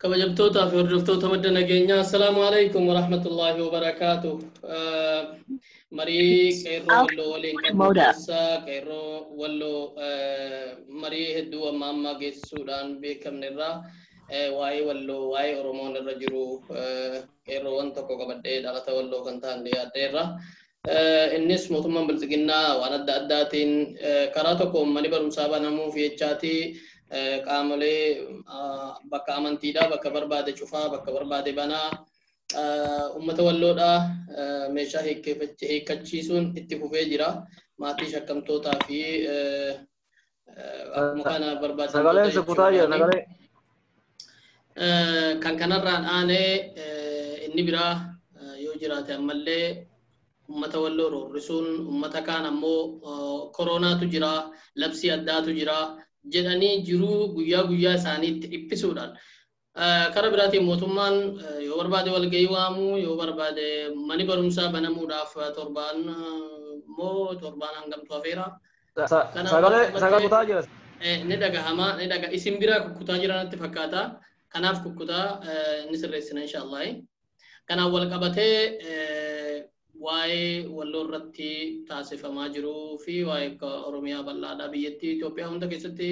kabajamtootaa fi hordoftoota madda nageenyaa assalaamu alaikum warahmatullaahi wabarakaatu marii qeerroo walloo waliin qabnu keessaa qeerroo walloo marii hedduu amma ammaa geessisuudhaan beekamne irraa waa'ee walloo waa'ee oromoon irra jiru qeerroowwan tokko qabadhee dhalata walloo kan ta'an dhiyaadhee irraa Innis mootummaan Bilxiginnaa waan adda addaatiin karaa tokkoon mani barumsaa banamuuf jechaati qaamolee bakka amantiidhaa bakka barbaade cufaa bakka barbaade banaa uummata walloodhaa meeshaa hiikkachiisuun itti fufee jira. Maatii shakkamtootaa fi Akkuma kana barbaachisu Sagaleen si kutaa jira sagalee. Kan kanarraan aanee inni biraa yoo jiraate ammallee uummata walloo roorrisuun uummata kaan ammoo koroonaatu jira labsii addaatu jira jedhanii jiruu guyyaa guyyaa isaaniitti dhiphisuudhaan Kara biraatiin mootummaan yoo barbaade walgahii waamuu, yoo barbaade mani barumsaa banamuudhaaf torbaan moo torbaan hangamtu hafeera. Sagalee sagalee kutaa jira. Ni dhagahama, ni dhaga isin biraa kukkutaa jira natti fakkaata. Kanaaf kukkutaa ni sirreessina inshaallah. Kanaan wal qabatee waa'ee walloo irratti taasifamaa jiruu fi waa'ee akka Oromiyaa bal'aadhaa biyyattii Itoophiyaa hunda keessatti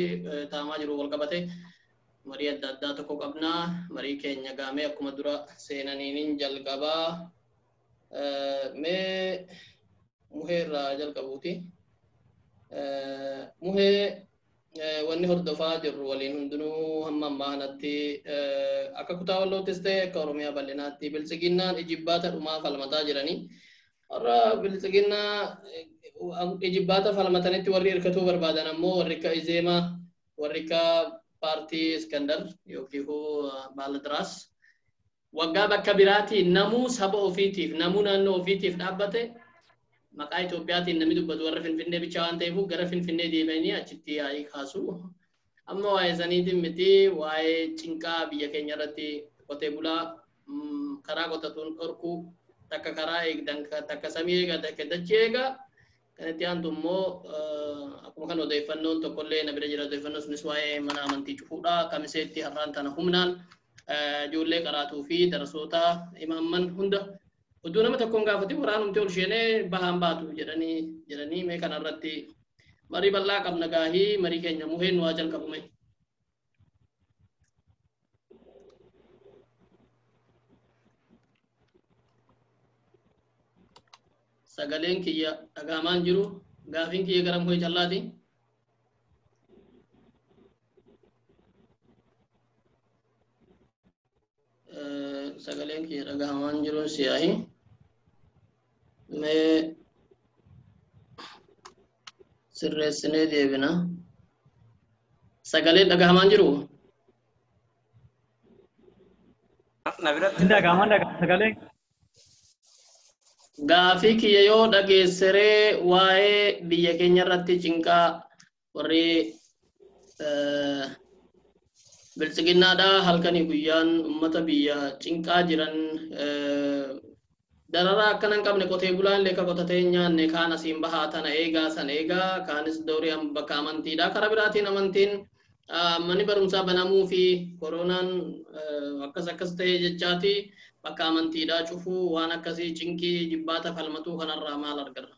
taa'amaa jiru wal qabatee marii adda addaa tokko qabna. Marii keenya gaamee akkuma dura seenaniin jalqabaa mee muhee irraa jalqabuuti. Muhee wanni hordofaa jirru waliin hundinuu hamma ammaa kanatti akka kutaa walloottis ta'e akka oromiyaa bal'inaatti biltsiginnaan ijibbaata dhumaa falmataa jiranii warra biltsiginnaa ijibbaata falmatanitti warri hirkatuu barbaadan ammoo warri akka izeemaa warri akka paartii iskandar yookiin baaladiraas Waggaa bakka biraatii namuu saba ofiitiif, namuu naannoo ofiitiif dhaabbate maqaa Itoophiyaatiin namni dubbatu warra Finfinnee bichaa waan ta'eefuu gara Finfinnee deebi'anii achitti yaa'ii kaasu. Amma waa'ee saniitiin miti waa'ee cinqaa biyya keenya irratti qotee bulaa karaa qotatuun dhorkuu takka karaa eegdan takka samii eega takka dachii eega Kan itti aantu immoo akkuma kan odeeffannoon tokkollee na bira jira odeeffannoo sunis waa'ee mana amantii cufuudha. Kamiseetti har'aan tana humnaan ijoollee qaraatuu fi darasoota imaamman hunda utuu nama tokkoon gaafatin waraanumti ol sheenee bahaan baatu jedhanii jedhanii mee kana irratti marii bal'aa qabna gaahii marii keenya muheen waa jalqabume. sagaleen kiyya dhagaamaan jiru gaafiin kiyya gara muhee callaati sagaleen kiyya dhagahamaan jiruun siyaahi mee sirreessinee deebina sagaleen dhagahamaan jiru na biratti Dhagahamaan dhagahamaan sagalee. gaafii kiyya yoo dhageesseree waa'ee biyya keenya irratti cinqaa warri biltsiginnaadha halkanii guyyaan ummata biyya cinqaa jiran dararaa akkana hin qabne qotee bulaan illee ka qotatee hin nyaanne kaan asiin bahaa tana eegaa san eegaa kaanis doorii bakka amantiidha karaa biraatiin amantiin manni barumsaa banamuu fi koronaan akkas akkas ta'ee jechaati bakka amantiidhaa cufuu waan akkasii cinqii jibbaata falmatuu kanarraa maal argina.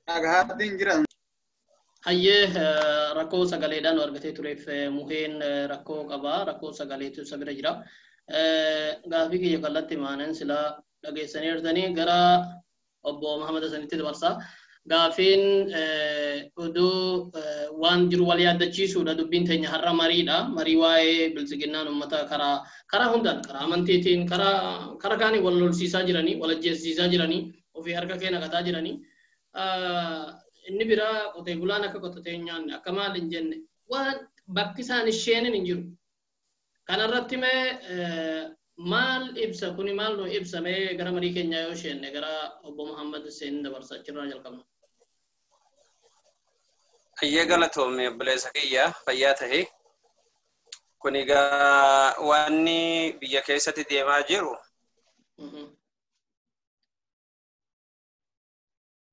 Dhagahaatti hin jiran. Hayyee rakkoo sagaleedhaan argatee tureef muheen rakkoo qaba rakkoo sagaleetu isa bira jira. Gaafii kiyya kallatti maanan silaa dhageessanii jirtanii gara obbo Mahamad Hasanitti dabarsa. Gaafiin oduu waan jiru wal yaaddachiisuudha dubbiin teenya har'a mariidha. Marii waa'ee biltsiginnaan uummata karaa karaa hundaan karaa amantiitiin karaa karaa kaanii wal lolsiisaa jiranii wal ajjeesisaa jiranii ofii harka kee naqataa jiranii. inni biraa qotee bulaan akka qotatee hin nyaanne akka maal hin jenne waan bakki isaan isheenin hin jiru. Kanarratti mee maal ibsa kuni maal nu ibsa mee gara marii keenyaa yoo isheenne gara obbo Muhammad Hussein dabarsa achirraa jalqabna. Hayyee galatoomi obboleessa kiyya fayyaa tahe. Kun egaa wanni biyya keessatti deemaa jiru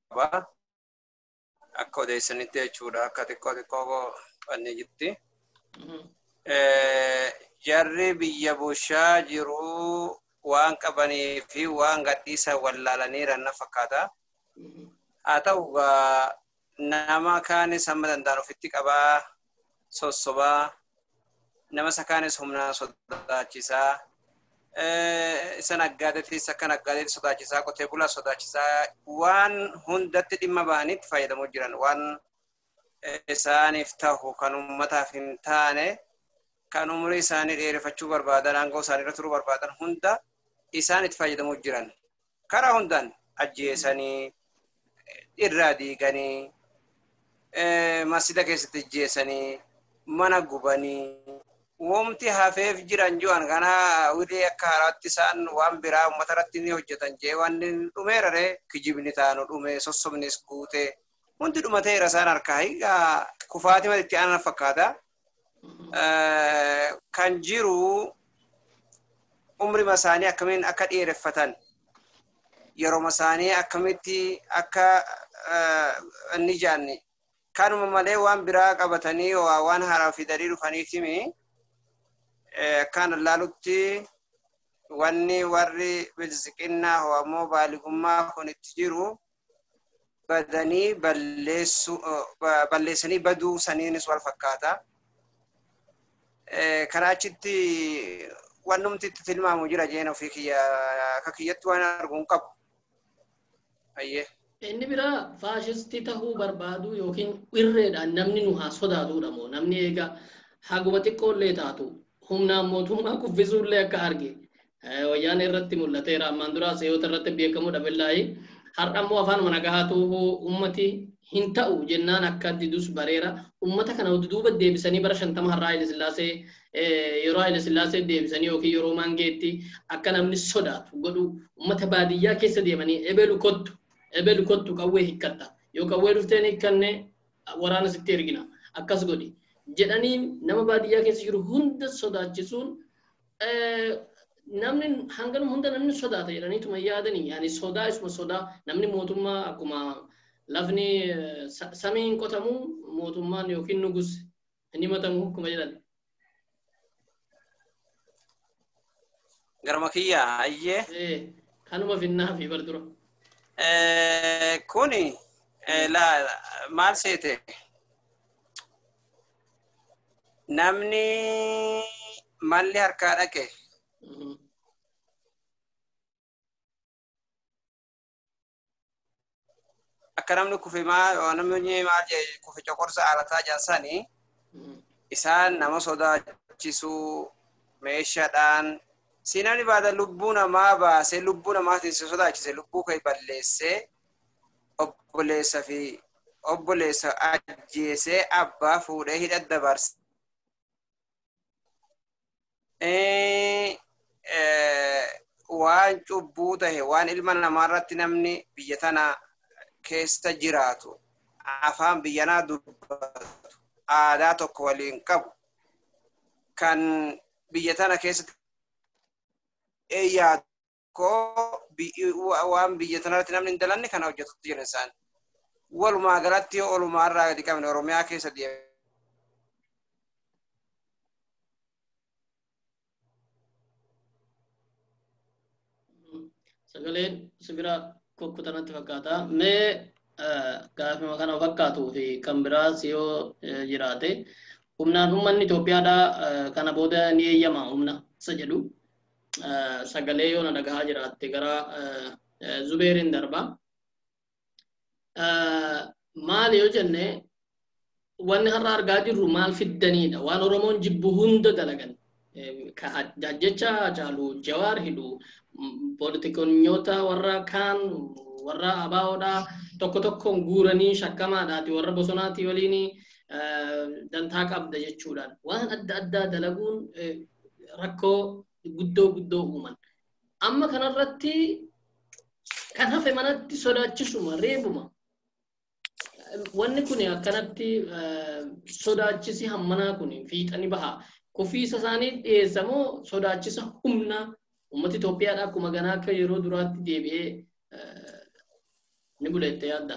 qaba. Akka odeessanitti jechuudha akka xiqqoo xiqqoo banne jirti. Jarri biyya bushaa jiru waan qabanii fi waan gadhiisan wallaalaniiran na fakkaata. Haa ta'u Nama kaanis hamma danda'an ofitti qabaa, sossobaa, nama isa kaanis humnaan sodaachisaa, isa naggaadeetis akka naggaadeetti sodaachisaa, qotee bulaa sodaachisaa waan hundatti dhimma bahanitti fayyadamoo jiran waan isaaniif tahu kan uummataaf hin taane kan umurii isaanii dheereffachuu barbaadan aangoo isaanii irra turuu barbaadan hunda isaan itti fayyadamoo jiran. karaa hundaan ajjeesanii irraa diiganii masjida keessatti ajjeesanii mana gubanii womti hafeef jiran jiran kana wilee akka haraatti isaan waan biraa uummata irratti ni hojjetan jee waan dhumeerare kijibni taanu dhume sossobnis guute hundi dhumateera isaan harkaa kufaatima itti aanan fakkaata kan jiru umrima isaanii akkamiin akka dheereffatan yeroma isaanii akkamitti akka inni jaanne kanuma malee waan biraa qabatanii waan haaraa fidanii dhufaniitimi kan laalutti wanni warri bilisiqinnaa ammoo baaligummaa kun itti jiru badanii balleessuu ba- balleessanii baduu saniinis wal fakkaata. Eh, Karaa achitti wannumti itti tilmaamu jira jeen ofii kiyya akka kiyyatti waan argu hin qabu. Ayyee. Inni biraa faashistii tahuu barbaaduu yookiin irreedhaan namni nu haa sodaatuudha moo namni eegaa haguma xiqqoollee taatu humnaan mootummaa kuffisuullee akka arge wayyaanee irratti mul'ateera ammaan duraa seeyoota irratti beekamuu dhabellaayi har'a immoo afaanuma nagahaatu ummati hin ta'u jennaan akka didus bareera ummata kana duuba deebisanii bara shantama har'aa Haile Sillaasee yeroo Haile Sillaasee deebisanii yookiin yeroo maangeetti akka namni sodaatu godhu ummata baadiyyaa keessa deemanii ebelu kottu ebelu kottu qawwee hikkatta yoo qawwee dhufteen hikkanne waraana sitti ergina akkas godhi jedhanii nama baadiyyaa keessa jiru hunda sodaachisuun namni hangan hunda namni sodaata jedhanii tuma yaadanii yaani sodaa isuma sodaa namni mootummaa akkuma lafni samiin qotamu mootummaan yookiin nugus hin himatamu akkuma jedhan. Garuma kiyya ayyee. Kanuma finnaa fi bar dura. Kuni maal seete? Namni malli harkaa dhaqe. Akka namni kufe maal namni maal jedhe kufe coqorsa aarataa jaasani isaan nama sodaachisuu meeshaadhaan si namni baada lubbuu namaa baasee lubbuu namaatiin si sodaachise lubbuu kee balleessee obboleessa fi obboleessa ajjeesee abbaa fuudhee hidha dabarse. Waan cubbuu tahe waan ilma namaa irratti namni biyya tana keessa jiraatu afaan biyyanaa dubbatu aadaa tokko waliin qabu kan biyya tana keessatti yaadu koo waan biyya tanarratti namni hin dalanne kana hojjetutti jiran isaan. Walumaa galatti yoo olumaa irraa gadi qabne Oromiyaa keessa deemu. Sagaleen sibiraa kukkutanatti fakkaata. Mee gaafima kana fakkaatuu fi kan biraas yoo jiraate humnaan uummanni Itoophiyaadhaa kana booda ni eeyyama humna isa jedhu sagalee yoo na dhagahaa jiraatte gara zubeerin darba maali yoo jenne wanni har'a argaa jirru maal fiddaniidha waan oromoon jibbu hunda dalagan jecha caalu jawaar hidhu poolitikonyoota warra kaan warra abaawoodha tokko tokkoon guuranii shakkamaadhaati warra bosonaati waliin dantaa qabda jechuudhaan waan adda addaa dalaguun rakkoo guddoo guddoo uuman. Amma kanarratti kan hafe manatti sodaachisuma reebuma. Wanni kun akkanatti sodaachisi hammanaa kun fiixani baha. Kufiisa isaanii dhiyeessa moo sodaachisa humna uummata Itoophiyaadha akkuma ganaa akka yeroo duraatti deebi'ee ni buleette yaadda.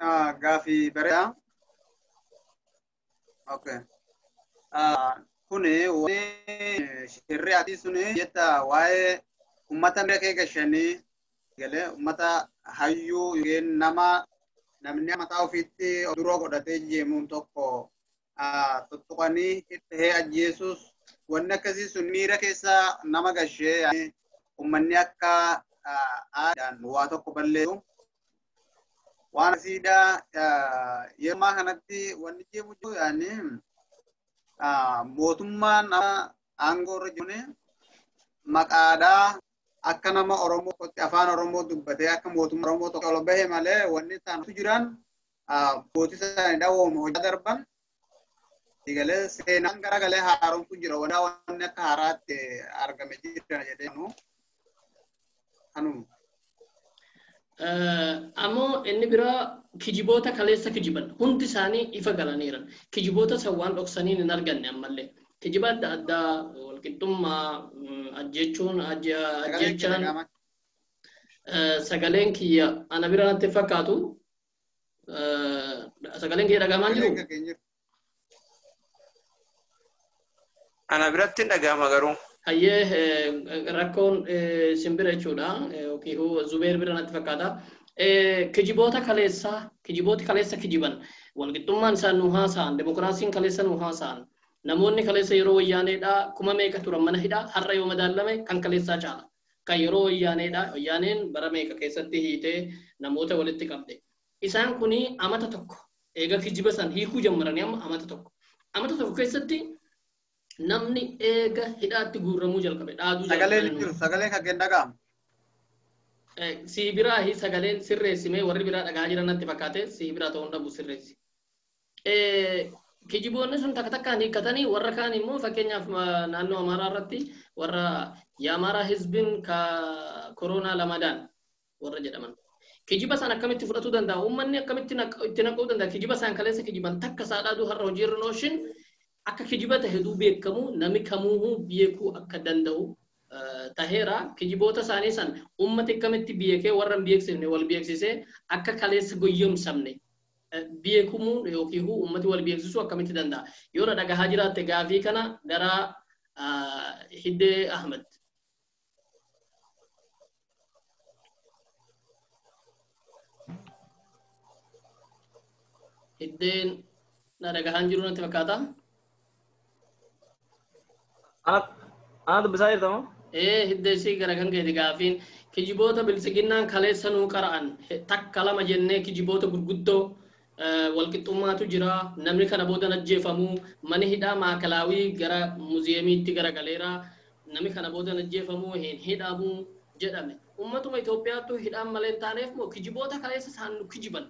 Ah, gaafii bareedaa. Okay. Ah, kuni wani shirri ati suni jetta waa'ee ummata miira kee gashanii galee ummata hayyuu yookiin nama namni mataa ofiitti of duroo godhatee jeemuun tokko tuttuqanii itti ajjeesuus wanni akkasii sun miira keessa nama gashee uummanni akka aadaan waa tokko balleessu. Waan asiidhaa yeroo ammaa kanatti wanni jeemu jiru yaani mootummaan aangoo irra jiru maqaadhaa akka nama Oromoo qotti afaan Oromoo dubbatee akka mootummaa Oromoo tokko ol bahe malee wanni isaantu jiran abbootii isaanii dhawooma hojii darban eegalee seenaan garagalee haaromtu jira waldaa wanni akka haaraatti argame jira jedhee nu kanuma. Ammoo inni biraa kijiboota kaleessa kijiban hundi isaanii ifa galaniiran. Kijiboota san waan dhoksaniin hin arganne ammallee. Kijiba adda addaa walqixxummaa ajjechuun ajjechaan sagaleen kiyya ana bira natti fakkaatu sagaleen kee dhagahamaa hin jiru? Ana biratti hin dhagahama garuu. Hayyee rakkoon simbira jechuudha yookiin zubeer bira natti fakkaata. Kijiboota kaleessaa kijibooti kaleessa kijiban walqixxummaan isaan nu haasa'an demokiraasiin kaleessa nu haasa'an namoonni kaleessa yeroo wayyaaneedhaa kuma meeqa turan mana hidhaa har'a yoo madaallame kan kaleessaa caala. Kan yeroo Wayyaaneedha. Wayyaaneen bara meeqa keessatti hiitee namoota walitti qabde. Isaan kun amata tokko eega kijiba san hiikuu jammaranii amma amata tokko. Amata tokko keessatti namni eega hidhaatti guurramuu jalqabe dhaaduu Sagaleen hin jiru. Sagaleen kan keenya dhaga'amu. Eh, sii biraa hi sagaleen sirreessimee warri biraa dhagaa jiran natti fakkaate sii biraa ta'uun dhabu sirreessi. Kijiboonni sun takka takkaan hiikkatanii warra kaan immoo fakkeenyaaf naannoo Amaaraa irratti warra Yaamaaraa Hizbin ka koroonaa lamadaan warra jedhaman. Kijiba isaan akkamitti fudhatuu danda'a? Uummanni akkamitti itti naquu danda'a? Kijiba isaan kaleessa kijiban takka saadhaaduu har'a hojiirra nooshin akka kijiba ta'e duu beekamu nami kamuuhuu beekuu akka danda'u taheera. Kijiboota isaanii san uummati akkamitti beekee warra hin beeksifne wal beeksisee akka kaleessa goyyomsamne beekumuun yookiin huu uummati wal beeksisuu akkamitti danda'a? Yoo na dhagahaa jiraatte gaafii kana gara Hiddee Ahmed. Hiddeen na dhagahaan jiru natti fakkaata. Ana dubbisaa jirta moo? Ee hidda isii gara kan keeti gaafiin kijiboota biltsiginnaan kaleessa nuu qara'an takka lama jennee kijiboota gurguddoo walqixxummaatu jira namni kana boodan ajjeefamu mani hidhaa maakalaawii gara muziyeemiitti garagaleera namni kana boodan ajjeefamu hin hidhamu jedhame ummatuma Itoophiyaattu hidhaan malee hin taaneef moo kijiboota kaleessa isaan nu kijiban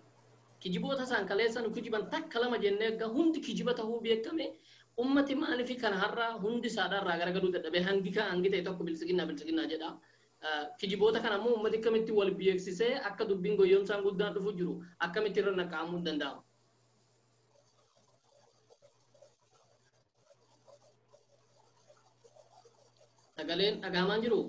Kijiboota isaan kaleessa nu kijiban takka lama jennee akka hundi kijiba tahuu beekkame ummati maalifi kan har'a hundi isaadhaa irraa garagaluu dadhabee hangi ka hangi ta'e tokko biltsiginnaa biltsiginnaa jedha. Kijiboota kana ammoo ummati akkamitti wal beeksisee akka dubbiin goyyomsaan guddaan dhufu jiru akkamitti irra naqqa'amuun danda'ama? Sagaleen dhagahamaan jiruu?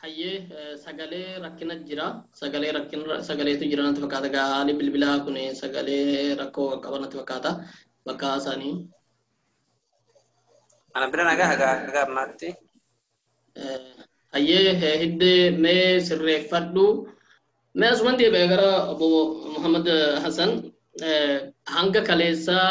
hayyee eh, sagalee rakkina jira sagalee rakkina sagaleetu jira natti fakkaata gaa haalli bilbilaa kun sagalee rakkoo qaba natti fakkaata bakka isaanii Ana bira nagaa hagaa hagaa ammaatti. Hayyee hiddee mee sirreeffadhu. Mee asuman deebi'e gara obbo Muhammad Hassan hanga kaleessaa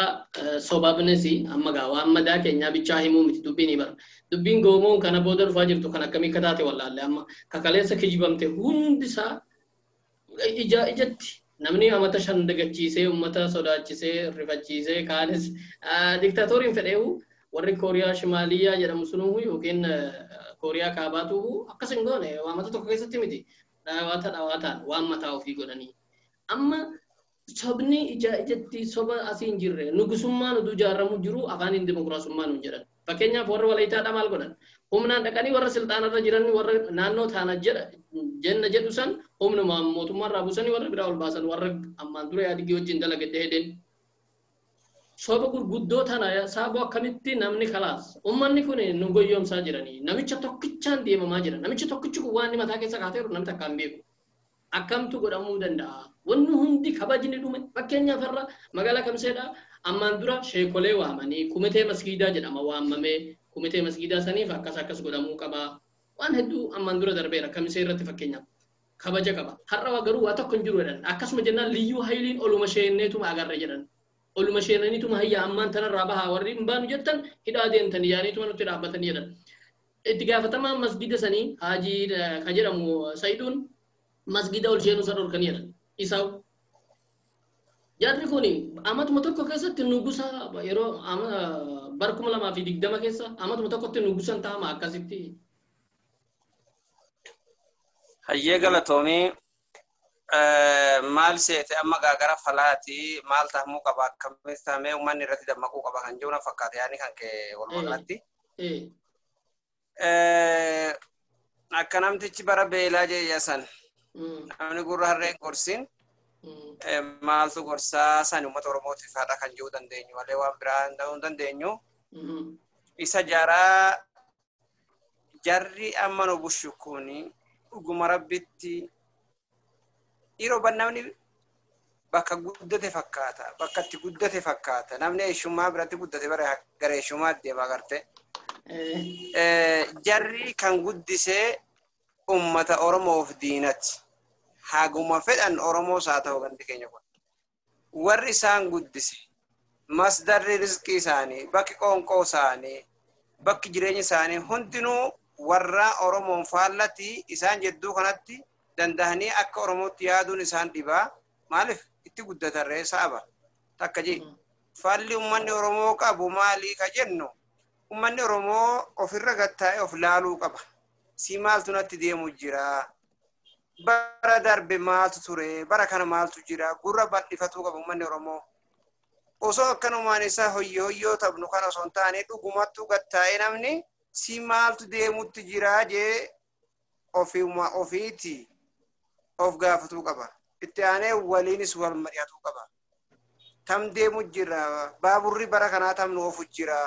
sobabnisi amma gaa waan madaa keenyaa bichaa himuu miti dubbiin ibara. Dubbiin goomoon kana booda dhufaa jirtu kan akkamii akka taate wallaalle amma ka kaleessa kijibamte hundisaa Ijaa ijatti namni amata shan dagachiisee ummata sodaachisee rifachiisee kaanis diktaatooriin fedheehu warri kooriyaa shimaaliyaa jedhamu sunuuhu yookiin kooriyaa kaabaatuuhu akkas hin goone waamata tokko keessatti miti dhawaata dhawaataan waan mataa ofii godhanii amma Sobni ija ijatti soba asii hin jirre. Nugusummaan utuu ijaarramuu jiruu afaaniin dimokiraasummaa nuun jedhan. Fakkeenyaaf warri Walayitaadhaa maal godhan? Humnaan dhaqanii warra silxaanarra jiran warra naannoo taana jedha jenna jedhu san humnumaan mootummaarraa buusanii warra biraa ol baasan warra ammaan dura Ihaadigii wajjin dalage Dehedeen. Soba gurguddoo tana saaboo akkamitti namni kalaas ummanni kun nu goyyomsaa jiranii namicha tokkichaan deemamaa jira namichi tokkichi kun waan inni mataa keessa kaatee jiru namni takka hin beeku. Akkamtu godhamuu danda'a? Wanni hundi kabajni dhume. Fakkeenyaaf har'a magaalaa Kamseedha ammaan dura sheekolee waamanii kumitee masgiidaa jedhama waammamee kumitee masgiidaa saniif akkas akkas godhamuu qaba. Waan hedduu ammaan dura darbeera kamisee irratti fakkeenyaaf kabaja qaba. Har'a waa garuu waa tokko hin jiru jedhan. Akkasuma jennaan liyyuu hayiliin oluma sheenneetuma agarre jedhan. Oluma sheennaniituma hayya ammaan tanarraa bahaa warri hin baanu jettan hidhaa deemtanii jedhaniituma nutti dhaabbatanii jedhan. Itti gaafatamaan masgiida sanii Haaji ka jedhamu Sa'iduun masgiida ol seenuu isa dhorkanii jedhan. Isaa'u. Jarri kun amatuma tokko keessatti nugusa yeroo bara kuma lamaa fi digdama keessa amatuma tokkotti nugusan taa'ama akkasitti. Hayyee galatoomii maal seete amma gaagara falaati maal tahamuu qaba akkamitti tahamee uummanni irratti dammaquu qaba kan jiru na fakkaate yaani kan kee walumaa galatti. ee Eh, Akka namtichi bara beelaa jeeya san mm, namni gurra harreen gorsin mm, eh, maaltu gorsaa san uummata Oromootiif haadha kan jiru dandeenyu malee waan biraa hin ta'uu hin dandeenyu. mhm, Isa jaraa jarri amma nu bushu kuni dhuguma rabbitti Yeroo ban namni bakka guddate fakkaata. Bakka itti guddate fakkaata. Namni eeshummaa biratti guddate bara gara eeshummaa deema garte. Jarri kan guddisee uummata Oromoof diinati. Haguma fedhan Oromoos haa ta'u gandi keenya kun. warri isaan guddise masdarri rizqii isaanii bakki qoonqoo isaanii bakki jireenya isaanii hundinuu warra oromoon faallati isaan jedduu kanatti dandahanii akka oromootti yaaduun isaan dhibaa maaliif itti guddatarree sa'aba takka jee faalli ummanni oromoo qabu maalii ka jennu ummanni oromoo ofirra gattaa'ee of laaluu qaba si maaltu natti deemu jira bara darbe maaltu ture bara kana maaltu jira gurra bal'ifatuu qabu uummanni oromoo osoo akkanumaan isaa hoyyoo hoyyoo taphnu kan osoo hin taane dhugumattuu gad taa'ee namni si maaltu deemutti jira jee ofiuma ofiiti of gaafatuu qaba itti aanee waliinis wal mari'atuu qaba tam deemu jira baaburri bara kanaa tam nu ofu jira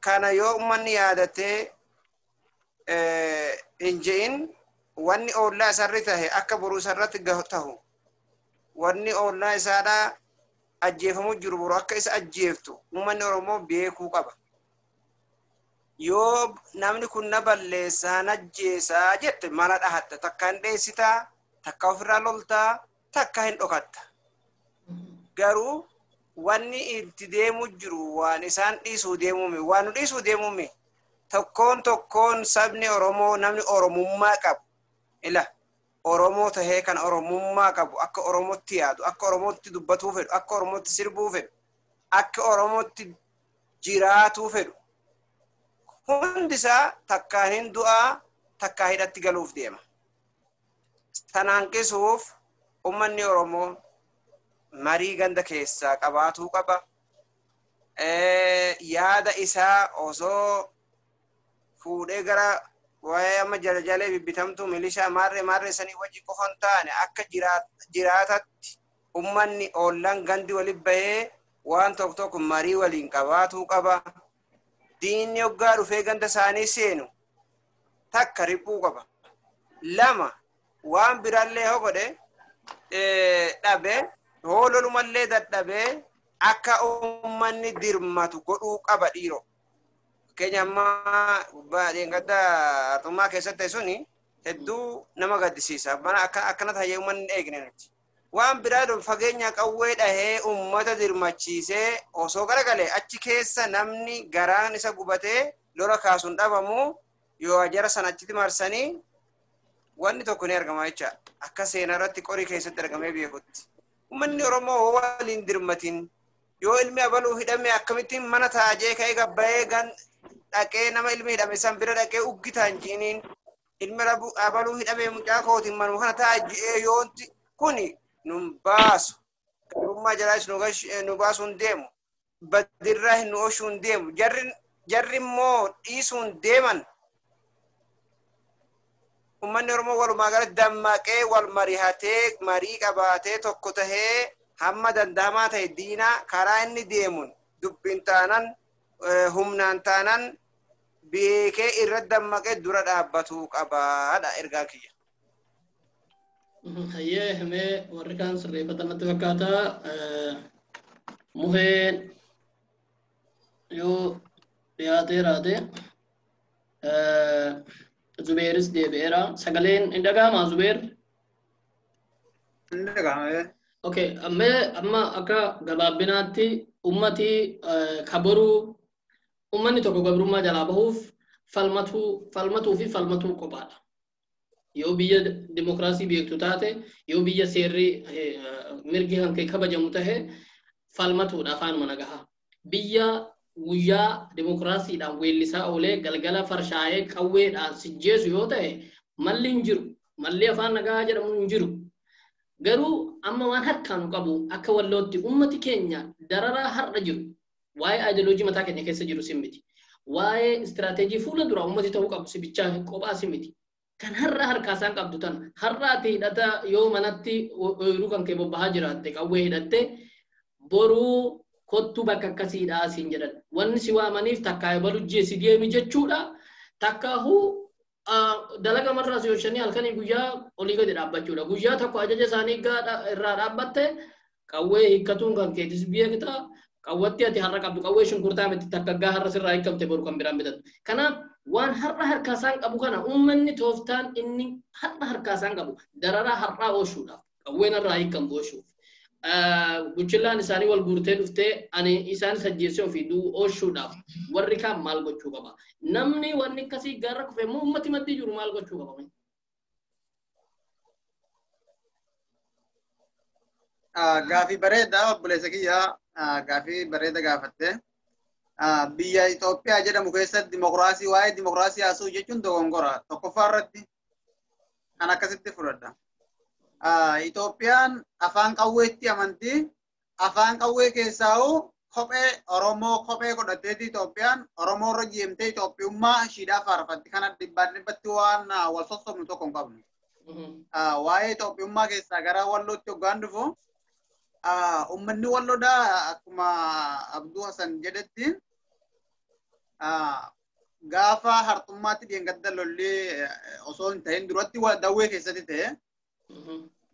kana yoo uummanni yaadatee hin je'in wanni oollaa isarri tahe akka boruu isarratti tahu wanni oollaa isaadhaa ajjeefamuu jiru boru akka isa ajjeeftu uummanni Oromoo beekuu qaba. Yoo namni kun na balleessaa na ajjeesaa jette mala dhahatta takka hin dheessitaa takka ofirraa loltaa takka hin dhokatta. Garuu wanni itti deemuu jiru waan isaan dhiisuu deemuumi. Waan nu dhiisuu deemuumi. Tokkoon tokkoon sabni Oromoo namni Oromummaa qabu. Ila Oromoo tahee kan Oromummaa qabu akka Oromootti yaadu, akka Oromootti dubbatuu fedhu, akka Oromootti sirbuu fedhu, akka Oromootti jiraatuu fedhu. Hundi isaa takkaa hin du'aa, takkaa hidhatti galuuf deema. San hanqisuuf ummanni Oromoo marii ganda keessaa qabaatuu qaba. Yaada isaa osoo fuudhee gara waa'ee amma jalajalee bibbitamtuu milishaa maarree maarree sanii wajji qofa hin taane akka jiraatatti ummanni ollaan gandi walitti bahee waan tokko tokko marii waliin qabaatuu qaba. diinni hoggaa dhufee ganda isaanii seenu takka riphuu qaba. Lama waan biraallee yoo godhe dhabe hoololumallee dadhabee akka uummanni dirmatu godhuu qaba dhiiro. Fakkeenya ammaa gubbaa dheengadda artummaa keessatti suni hedduu nama gaddisiisa. Mana akkana ta'e uummanni eegne nuti. Waan biraa don fageenya qawwee dhahee ummata dirmachiisee osoo garagale achi keessa namni garaan isa gubatee lola kaasun dhabamu yoo ajara san achitti marsanii wanni tokko ni argama jecha akka seenaa irratti qorii keessatti argamee beekutti. Uummanni Oromoo hoo waliin dirmatiin yoo ilmi abaluu hidhame akkamittiin mana taajee ka'ee gabbayee gan dhaqee nama ilmi hidhame san bira dhaqee uggitaan jiiniin ilmi rabu abaluu hidhamee mucaa kootiin manuma kana ta'a ji'ee yoonti kuni nun baasu garummaa jalaas nu gash- eh, nu baasuu hin deemu badirraa hin nu oshuu hin deemu jarri jarri immoo dhiisuu hin deeman ummanni oromoo walumaa galatti dammaqee wal marihatee marii qabaatee tokko tahee hamma danda'amaa ta'e diinaa karaa inni deemuun dubbiin taanan eh, humnaan taanan beekee irra dammaqee dura dhaabbatuu qabaadha ergaan kiyya. Hayyee himee warri kaan sirreeffatan natti fakkaata. Muheen yoo dhiyaatee raate Zubeeris deebi'eera. Sagaleen hin dhaga'amaa Zubeer? Inni dhaga'amee. Okay, amma amma akka gabaabinaatti ummati kabaruu Ummanni tokko gabrummaa jalaa bahuuf falmatuu, falmatuu fi falmatuu qophaadha. Yoo biyya dimokiraasii beektu taate, yoo biyya seerri mirgi kan kee kabajamu tahe falmatuudha afaanuma nagahaa. Biyya guyyaa dimokiraasiidhaan weellisaa oolee galgala farshaayee qawweedhaan sijjeesu yoo tahe malli hin jiru. Malli afaan nagahaa jedhamu hin jiru. Garuu amma waan harkaanu qabu akka wallootti ummati keenya dararaa har'a jiru Waa'ee ideology mataa keenya keessa jiru si miti. Waa'ee istiraatejii fuula duraa uummati ta'uu qabu si bichaa kophaa si miti. Kan har'a harkaa isaan qabdu tana. Har'a ati hidhata yoo manatti ooyiruu kan kee bobbahaa jiraatte qawwee hidhatte boruu kottuu bakka akkasiidhaa siin jedhan. Wanni si waamaniif takkaa ebalu GSDM jechuudha. Takkaahuu dalaga marraa si hoshanii halkanii guyyaa olii gadi dhaabbachuudha. Guyyaa tokko ajaja isaanii irraa dhaabbatte qawwee hiikkatuun kan keetis beekta. Qawwatti ati har'a qabdu qawwee shunkurtaa miti takkaggaa har'a sirraa hiikkamte boru kan biraan bitattu. Kanaaf waan har'a harkaa isaan qabu kana uummanni tooftaan inni har'a harkaa isaan qabu dararaa har'aa oolchuudhaaf. qawwee narraa hiikan gooshuuf. Buchillaan isaanii wal guurtee dhuftee ani isaan sajjeessee ofii du'u oolchuudhaaf warri kaan maal gochuu qaba? Namni wanni akkasii gaarra kufe immoo uummati maddii jiru maal gochuu qaba? Gaafii bareedaa obboleessa kiyyaa gaafii bareeda gaafatte. Biyya Itoophiyaa jedhamu keessatti dimokiraasii waa'ee dimokiraasii haasa'uu jechuun dogongora. Tokkoffaa irratti kan akkasitti fudhadha. Itoophiyaan afaan qawweetti amanti. Afaan qawwee keessaa hoo kophee Oromoo kophee godhatteeti Itoophiyaan Oromoo irra jeemtee Itoophiyummaa ishiidhaa faarfatti kana dhibbaan dhibbatti waan wal sossobnu tokko hin qabnu. Waa'ee Itoophiyummaa keessaa gara wallootti hoggaan dhufu ummanni walloodhaa akkuma Abduu Hasan jedhetti gaafa hartummaatti dheengadda lolli osoo hin ta'in duratti dawwee keessatti ta'e.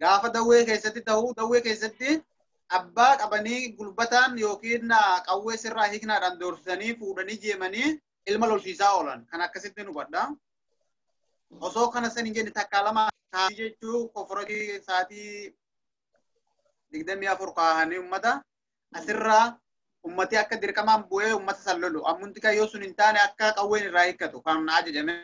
Gaafa dawwee keessatti ta'u dawwee keessatti abbaa qabanii gulbataan yookiin qawwee sirraa hiiknaadhaan doorsisanii fuudhanii jeemanii ilma lolchiisaa oolan kan akkasitti hubadha. Osoo kana san hin jenne takkaa lama kaasii jechuu koforakii sa'aatii digdamii afur kaahanii uummata asirraa ummati akka dirqamaan bu'ee ummata san lolu ammumti kan yoo sun hin taane akka qawween irraa hiikkatu kan na ajajame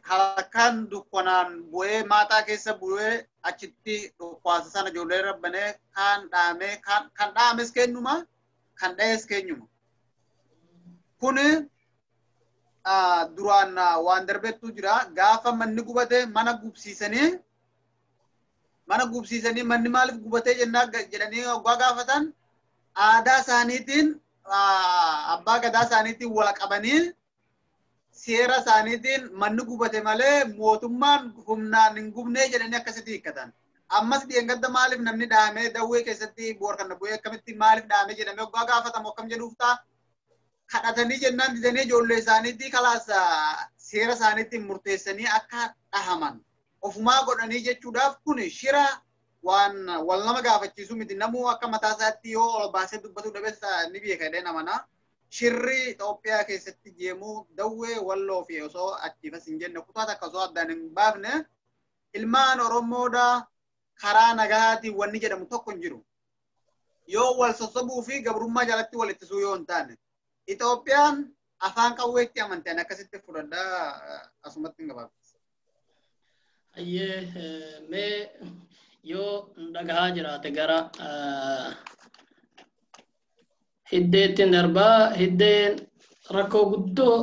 halkan dukkanaan bu'ee maataa keessa bu'ee achitti dhukwaasa sana ijoollee rabbanee kaan dhaamee kan dhaames kennuma kan dha'es keenyuma. Kun duraan waan darbettu jira gaafa manni gubate mana gubsiisanii mana gubsiisanii manni maaliif gubatee jennaa ga- jedhanii oggaa gaafatan aadaa isaaniitiin ah, abbaa gadaa isaaniitiin wal qabanii seera isaaniitiin manni gubate malee mootummaan humnaan hin gubnee jedhanii akkasitti hiikkatan. Ammas dheengadda maaliif namni dhahamee dawwee keessatti boorkanna bu'ee akkamitti maaliif dhahamee jedhamee oggaa gaafatamu akkam jedhuuf ta'a? kadhatanii jennaan didanii ijoollee isaaniitii kalaas seera isaaniitiin murteessanii akka dhahaman ofumaa godhanii jechuudhaaf kun shira waan wal nama gaafachiisu miti namuu akka mataa isaatti yoo ol baasee dubbatu dhabeessa ni beeka jedhee namana shirri Itoophiyaa keessatti jeemuu dawwee walloo fi osoo achiifas hin jenne kutaa takka osoo addaan hin baafne ilmaan Oromoodha karaa nagahaatiin wanni jedhamu tokko hin jiru. yoo wal sossobuu fi gabrummaa jalatti wal ittisuu yoo hin taane Itoophiyaan afaan qawweetti amanteen akkasitti fudhadha asumatti hin gabaabsisu. Hayyee mee yoo dhagahaa jiraate gara hiddeettiin darbaa hiddeen rakkoo guddoo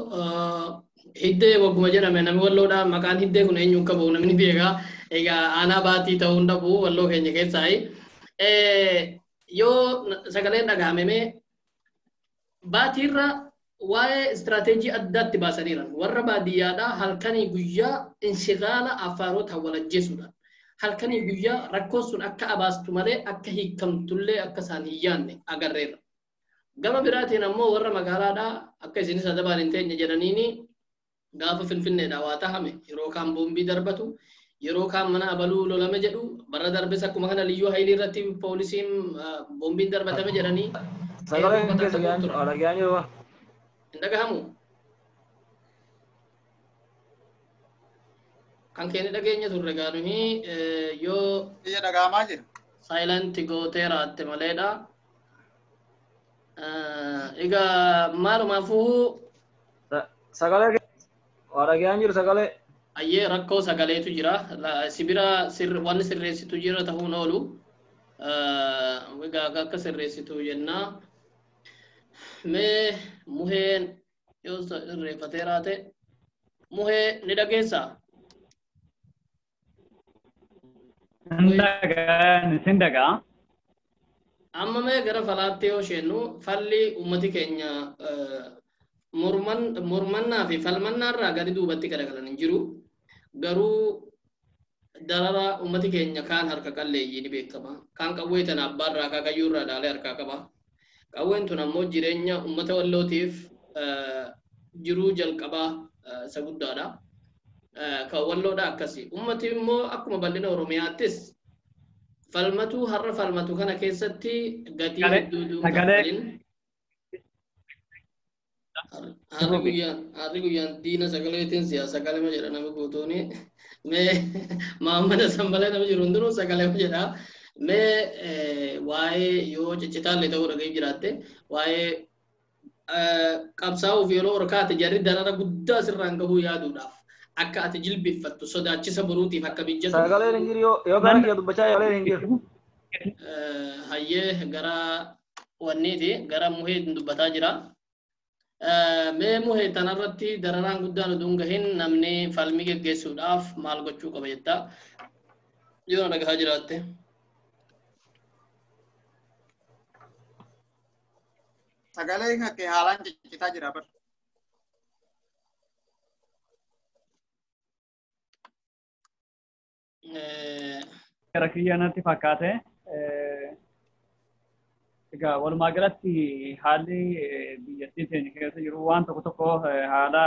hiddee wagguma jedhame namni walloodhaa maqaan hiddee kun eenyuun qabu namni beekaa egaa aanaa baatii ta'uu hin dhabu walloo keenya keessaayi. Yoo sagaleen dhagahamemee baatiirra waa'ee istiraateejii addaa itti baasaniiran. Warra baadiyyaadhaa halkanii guyyaa inshigaala Affaaroota wal ajjeesuudhaan. Halkanii guyyaa rakkoon sun akka abaastu malee akka hiikamtullee akka isaan hin yaanne agarreerra. Gama biraatiin ammoo warra magaalaadhaa akka isinis adabaan hin teenye jedhaniini gaafa Finfinneedhaa waa tahame yeroo kaan boombii darbatu, yeroo kaan mana abaluu lolame jedhu, barra darbes akkuma kana liyyuu hayilii irratti poolisiin boombiin darbatame jedhanii Sagaleen keessa dhaga'an jiru. Dhaga'an jiru. hin dhagahamu. Kan keenya dhageenya turre egaa nuyi yoo Biyya dhaga'amaa jira. saayilanti gootee raatte maleedha. Egaa maalumaafuu Sagalee kee waa dhaga'aan jiru sagalee. ayyee rakkoo sagaleetu jira. La- Si bira sirr- wanni sirreessitu jira ta'uun oolu. Eh, Egaa akka sirreessitu jenna. Mee muheen yoo sirreeffatee raate muhee ni dhageessaa? Sin dhagaa. Amma mee gara falaatti yoo isheennu falli uummati keenya mormannaa fi falmannaa irraa gadi duubatti garagalan hin jiru. Garuu darara uummati keenya kaan harka qalleeyyii ni beekama. Kaan qawwee tana abbaa irraa akaakayyuu irraa ilaalee harkaa qaba. Qawween tun ammoo jireenya uummata Wallootiif jiruu jalqabaa isa guddaadha. Kan Walloodha akkasi. Uummati immoo akkuma bal'ina Oromiyaattis falmatuu har'a falmatu kana keessatti gatii hedduutu hin kaffalin. Harri guyyaan harri guyyaan diina sagaleetiin si'a sagalema jedha nama guutuuni. Mee maammada sanbalee nama jiru hundinuu sagalema jedha. Mee waa'ee yoo ciccitaallee ta'uu dhaga'ee jiraatte waa'ee qabsaa'uuf yeroo ol kaate jarri darara guddaa sirraan gahuu yaaduudhaaf akka ati jilbiffattu sodaachisa boruutiif akka mijjatu. Sagaleen hin jiru yoo gara kiyya dubbachaa sagaleen hin jiru. Hayyee gara wanniiti gara muhee dubbataa jira. Mee muhee tanarratti dararaan guddaan utuu hin gahin namni falmii geggeessuudhaaf maal gochuu qaba jetta? Yoo na dhagahaa jiraatte. Sagaleen kee haalaan ciccitaa jira bar. Gara kiyya natti fakkaate. Egaa walumaa galatti haalli biyyattii keenya keessa jiru waan tokko tokko haala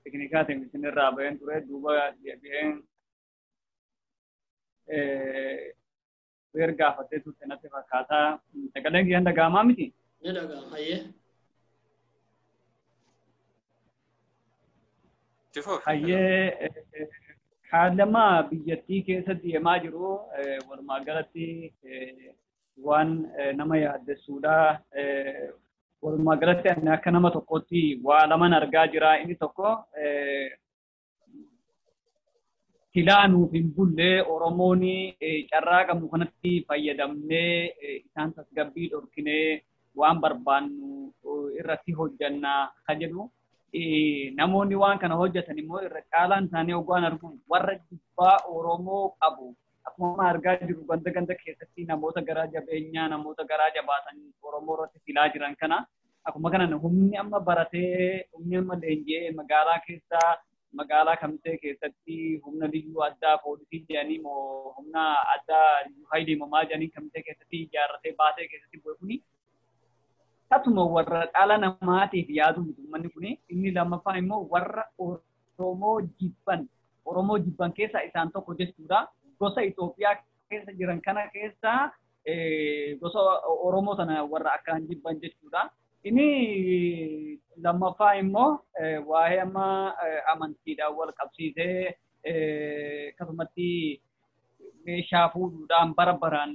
tekinikaatiin isinirraa baheen ture duuba deebi'een weer gaafattee turte natti fakkaata. Sagaleen kiyyan dhaga'amaa miti? Ni dhaga'ama. Hayyee. Itti fufi. Hayyee haalama biyyattii keessa deemaa jiru eh, walumaa galatti eh, waan eh, nama yaaddessuudha. Eh, Walumaa galatti ani akka nama tokkootti waa laman argaa jira. Inni tokko eh, silaa nuuf hin bulle Oromoon carraa qabnu kanatti fayyadamnee isaan tasgabbii dhorkinee waan barbaannu irratti hojjanna kan jedhu namoonni waan kana hojjetan immoo irra caalaan isaanii oggaan argu warra jibbaa Oromoo qabu akkuma argaa jirru ganda ganda keessatti namoota garaa jabeenyaa namoota garaa jabaatan Oromoo irratti filaa jiran kana Akkuma kanan humni amma baratee humni amma leenji'ee magaalaa keessa magaalaa kamisee keessatti humna liyyuu addaa poolisii jedhanii moo humna addaa liyyuu hayilee moo maal jedhanii kamisee keessatti ijaarratee baatee keessatti bu'e kuni tatuma warra dhala namaatiif yaadu miti uummanni kuni inni lammaffaan immoo warra Oromoo jibban Oromoo jibban keessaa isaan tokko jechuudha gosa Itoophiyaa keessa jiran kana keessaa gosa Oromoo sana warra akkaan jibban jechuudha. Inni lammaffaa immoo waa'ee amma amantiidhaan wal qabsiisee akkasumatti meeshaa fuudhuudhaan bara baraan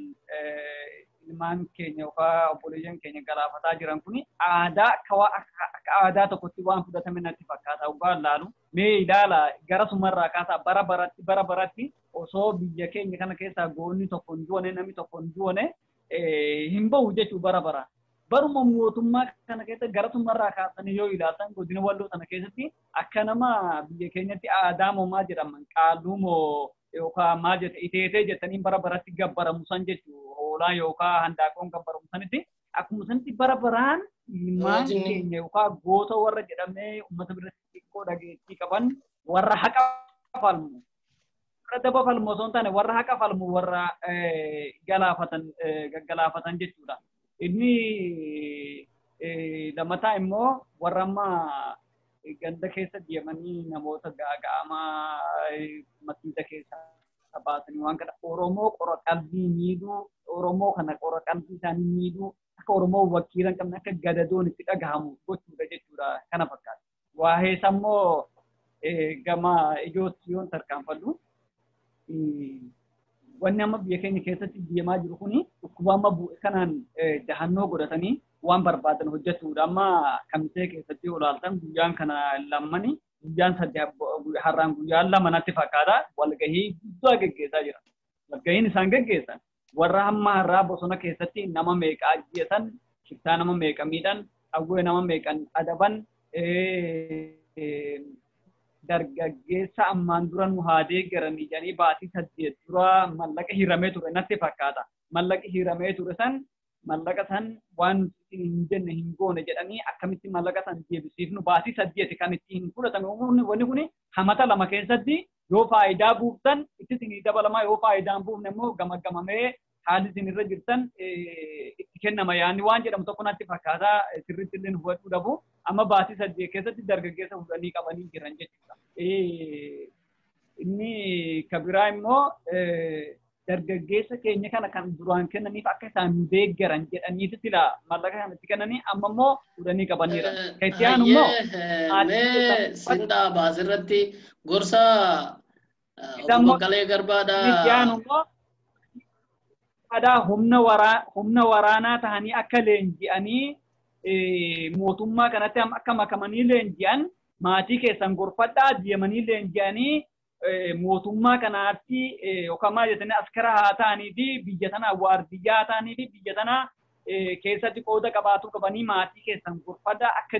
ilmaan keenya yookaan obboleeyyan keenya galaafataa jiran kun aadaa akka aadaa tokkotti waan fudhatame natti fakkaata dhugaa laalu mee ilaala gara sumarraa kaasaa bara baratti bara baratti osoo biyya keenya kana keessaa goonni tokko hin du'ane namni tokko hin du'ane hin bahu jechuu bara bara. Baruma mootummaa kana keessa gara xumurarraa kaasanii yoo ilaaltan godina walloo sana keessatti akka nama biyya keenyatti aadaa moo maa jedhaman qaalluu moo yookaan maa jette iteetee jettanii bara baratti gabbaramu san jechuu hoolaa yookaan handaaqoon gabbaramu sanitti akkuma sanitti bara baraan ilmaan keenya yookaan goota warra jedhamee uummata biratti xiqqoo dhageettii qaban warra haqa falmu warra daba falmu osoo hin taane warra haqa falmu warra galaafatan gaggalaafatan jechuudha. Inni lammataa immoo warra amma ganda keessa deemanii namoota gaaga'amaa masiisa keessa baasanii waan kana Oromoo qora qalbii miidhuu Oromoo kana qora qalbii isaanii miidhuu akka Oromoo wakiila hin qabne akka gadadoon itti dhagahamu gochuudha jechuudha kana fakkaata. Waa'ee isaa immoo gama ijootti yoon tarkaanfadhu wanni amma biyya keenya keessatti deemaa jiru kuni dhukkuba amma bu'e kanaan dahannoo godhatanii waan barbaadan hojjechuudha. Amma kamisee keessatti olaaltan guyyaan kana lammani guyyaan sadii har'aan guyyaan lama natti fakkaata walgahii guddaa geggeessaa jira. Walgahiin isaan geggeessan warra hamma har'aa bosona keessatti nama meeqa ajjeesan shiftaa nama meeqa miidhan qawwee nama meeqan adaban dargaggeessa ammaan dura nu haa deeggaranii jedhanii baatii saddeet dura mallaqa hiramee ture natti fakkaata. Mallaqa hiramee ture san mallaqa san waan nuti isin hin jenne hin goone jedhanii akkamitti mallaqa san deebisiifnu baasii saddeeti kan itti hin fudhatame umuurni wanni kun hamata lama keessatti yoo faayidaa buuftan itti isin dabalamaa yoo faayidaa hin buufne immoo gamaggamamee haalli isin irra jirtan itti kennama yaanni waan jedhamu tokko natti fakkaata sirriitti illee hubachuu dhabu amma baasii saddeet keessatti dargaggeessa fudhanii qabanii jiran jechuudha. Inni kabiraa immoo dargaggeessa keenya kana kan duraan kennaniif akka isaan nu deeggaran jedhaniiti sila mallaqa kan itti kennanii amma immoo fuudhanii qabaniira. Kan itti aanu immoo Mee sindaa baas irratti gorsa Isa obbo immoo- Baqqalee Garbaadha. kan itti aanu immoo aadaa humna waraa- humna waraanaa tahanii akka leenji'anii eh, mootummaa kanatti am- akka makamanii leenji'an maatii keessan gorfadhaa deemanii leenji'anii mootummaa kanaatti yookaan maal jettanii askara haa ta'anii fi biyya tanaa waardiyyaa haa ta'anii fi biyya tanaa keessatti qooda qabaatuu qabanii maatii keessan gorfadhaa akka